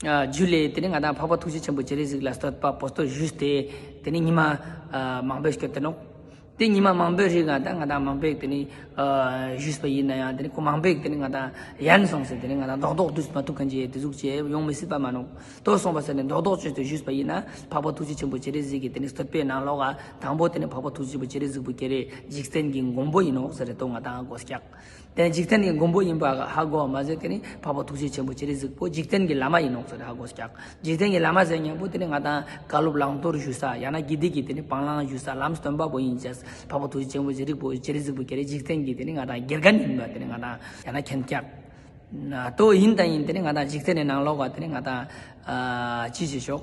རྒྱུད་ལས་དེ་ནི་ང་དང་འཕགས་པ་ཐུགས་རྗེ་ཆེན་པོ་རྗེ་རིགས་གཟིགས་ལ་བསྟོད་པ་པོ་སྟོད་བཞུགས་ཏེ་དེ་ནི་ཉི་མ་མང་པོས་བསྐྱོད་དེ་ནོ། དེ་ཉི་མ་མང་པོའི་རིགས་ང་དང་ང་དང་མང་པོས་དེ་ནི་བཞུགས་པ་ཡིན་ན་ཡང་དེ་ནི་གོ་མང་པོས་དེ་ནི་ང་དང་ཡན་སོང་ཟེར་དེ་ནི་ང་དང་རྡོག་རྡོག་བསྡུས་སུ་མ་ཐུབ་གང་ཅིའི་དེ་གཟུགས་ཅན་ཡོང་མི་སྲིད་པ་མ་ནོ། ལྟོས་སོང་བ་ཟེར་ནས་རྡོག་རྡོག་བཅོས་ཏེ་བཞུགས་པ་ཡིན་ན་འཕགས་པ་ཐུགས་རྗེ་ཆེན་པོ་རྗེ་རིགས་གཟིགས་ཀྱི་དེ་ནི་བསྟོད་པའི་ནང་ལོགས་ཨ། དང་པོ་དེ་ནི་འཕགས་པ་ཐུགས་རྗེ་ཆེན་པོ་རྗེ་རིགས་གཟིགས་པོ་ཀྱེ་རེ་འཇིག་རྟེན་གྱི་མགོན་པོ་ཡིན་ནོ་ཟེར་རེ་དོ་ང་དང་སྒོ་སྐྱག། དེ་འཇིག་རྟེན་གྱི་མགོན་པོ་ཡིན་པ་ཧ་གོ་བ་མ་ཟད་དེ་ནི་འཕགས་པ་ཐུགས་རྗེ་ཆེན་པོ་ཅི་རིགས་གཟིགས་པོ་འཇིག་རྟེན་གྱི་བླ་མ་ཡིན་ནོ་ཟེར་ནས་ཧ་གོ་སྐྱག་འཇིག་རྟེན་གྱི་བླ་མ་ཟེར་སྙན་པོ་དེ་ནི་ང་དང་བཀའ་སློབ་བླང་དོར་ཞུ་ས་ཡང་ན་དགེ་སྡིག་གི་དེ་ནི་སྤང་བླང་ཞུ་ས་ལམ་སྟོན་པ་པོ་ཡིན་ཟེར་འཕགས་པ་ཐུགས་རྗེ་ཆེན་པོ་ཅི་རིགས་པོ་ཅི་རིགས་གཟིགས་པོ་ཀྱེ་རེ་འཇིག་རྟེན་གྱི་དེ་ནི་ང་དང་དགེ་རྒན་ཡིན་པ་དེ་ནི་ང་དང་ཡང་ན་མཁན་སྐྱབས་ཏོ་ཡིན་དང་ཡིན་དེ་ནི་ང་དང་འཇིག་རྟེན་ནས་ནང་ལོག་པ་དེ་ནི་ང་དང་ཅི་བྱེད་ཤོག།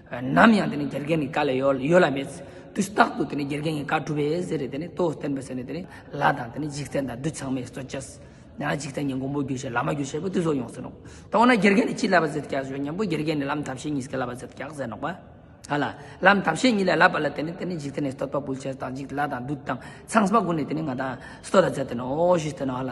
ནམ་ཡང་དེ་ནི་དགེ་རྒན་གྱི་བཀའ་ལས་ཡོལ་ལ་མེད། དུས་རྟག་ཏུ་དེ་ནི་དགེ་རྒན་གྱི་བཀའ་སྒྲུབ་པའི་གཟི་རིད་དེ་ནི་རྟོགས་བསྟན་པའི་ཚེ་ནི་དེ་ནི་ལ་དང་དེ་ནི་འཇིག་རྟེན་དང་བདུད་ཚང་མའི་གཙོ་བྱས། ཡང་འཇིག་རྟེན་གྱི་མགོན་པོ་རྒྱུད་བཞི་བླ་མ་རྒྱུད་བཞི་པོ་དེ་ཚོ་ཡོང་ཟེར་ནོག། ད་འོ་ན་དགེ་རྒན་ནི་ཅིའི་བསླབ་པ་ཟེར་སྐྱག་ཟོས་སྙམ་པོ་དགེ་རྒན་ནི་ལམ་ཐབས་ཤེས་གཉིས་ཀྱི་བསླབ་པ་ཟེར་སྐྱག་ཟས་ནོག་པ། ཨ་ལ། ལམ་ཐབས་ཤེས་གཉིས་ལས་བསླབ་པ་ལ་དེ་ནི་དེ་ནི་འཇིག་རྟེན་ནས་སྟོད་པ་བུལ་བྱས་དང་འཇིག་ལ་དང་བདུད་དང་ཚངས་པ་ཀུན་ནས་དེ་ནི་ང་དང་སྟོད་ལ་བཙལ་དེ་ནོ་ཞེས་ཟེར་ནོ་ཨ་ལ།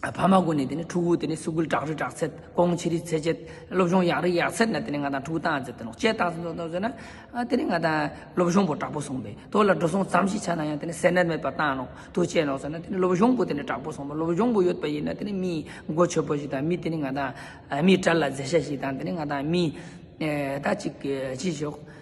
ཕ་མ་ཀུན་ནས་དེ་ནས་ཕྲུ་གུ་དེ་ནས་སུ་ཀུལ་དྲག་རིགས་དྲག་ཚད་སྐོང་ཆེ་རིགས་ཚད་ཆད་སློབ་སྦྱོང་ཡག་རིགས་ཡག་ཚད་ནས་དེ་ནས་ང་དང་ཕྲུ་གུ་སྟངས་ཟེར་དེ་ནོག་སྐྱེལ་སྟངས་ཟེར་ཟེར་ན་དེ་ནས་ང་དང་སློབ་སྦྱོང་པོ་དྲག་པོ་སོང་པས་དོ་ལ་འགྲོ་སོང་ཙམ་ཞིག་ཆ་ན་ཡང་དེ་ནས་ཟས་ནད་མེད་པ་བཏང་ནོག་དུ་བཅད་ནོག་ཟེར་ན་དེ་ནས་སློབ་སྦྱོང་པོ་དེ་ནས་དྲག་པོ་སོང་པ་སློབ་སྦྱོང་པོ་ཡོད་པ་ཡིན་ན་དེ་ནས་མིའི་མགོ་ཆོད་པོ་ཞིག་དང་མི་དེ་ནས་ང་དང་མི་དྲ་ལ་མཛེས་ཤ་ཞིག་དང་དེ་ནས་ང་དང་མི་ད་ཅིག་ཅི་ཞོག་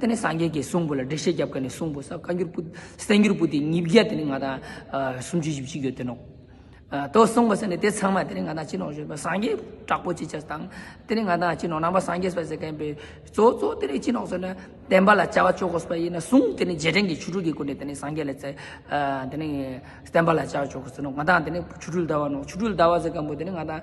དེ་ནས་སངས་རྒྱས་ཀྱིས་གསུང་པོ་ལ་འགྲེལ་བཤད་བརྒྱབ་ཀ་ནས་གསུང་པོ་ས་བཀའ་འགྱུར་པོ་གསན་འགྱུར་པོ་ཏི་ཉིས་བརྒྱ་དེ་ནི་ང་དང་སུམ་ཅུ་བཞི་བཅུ་ཡོད་དོན་ནོ། དོ་གསུང་པོ་ས་ནི་དེ་ཚང་མ་དེ་ནི་ང་དང་སྤྱི་ནོར་གཞོན་པ་སངས་རྒྱས་དྲག་པོ་ཅི་ཆ་དང་དེ་ནི་ང་དང་སྤྱི་ནོར་ནང་པ་སངས་རྒྱས་སྤ་སེ་མཁན་པོས་གཙོ་གཙོ་དེ་ནི་སྤྱི་ནོར་གསོལ་བསྟན་པ་ལ་བཅའ་བ་ཅོག་གོ་སྤ་ཡིན་ན་གསུང་དེ་ནི་རྗེས་དྲན་གྱི་ཆུ་སྤྲུལ་གྱི་སྐུ་འདྲེ་དེ་ནི་སངས་རྒྱས་ལ་བཙས་དེ་ནི་བསྟན་པ་ལ་བཅའ་བ་ཅོག་གོ་ཟེར་ནོ་ང་དང་དེ་ནི་ཆུ་སྤྲུལ་ཟླ་བ་ནོ་ཆུ་སྤྲུལ་ཟླ་བ་ཟེར་མཁན་པོ་དེ་ནི་ང་དང།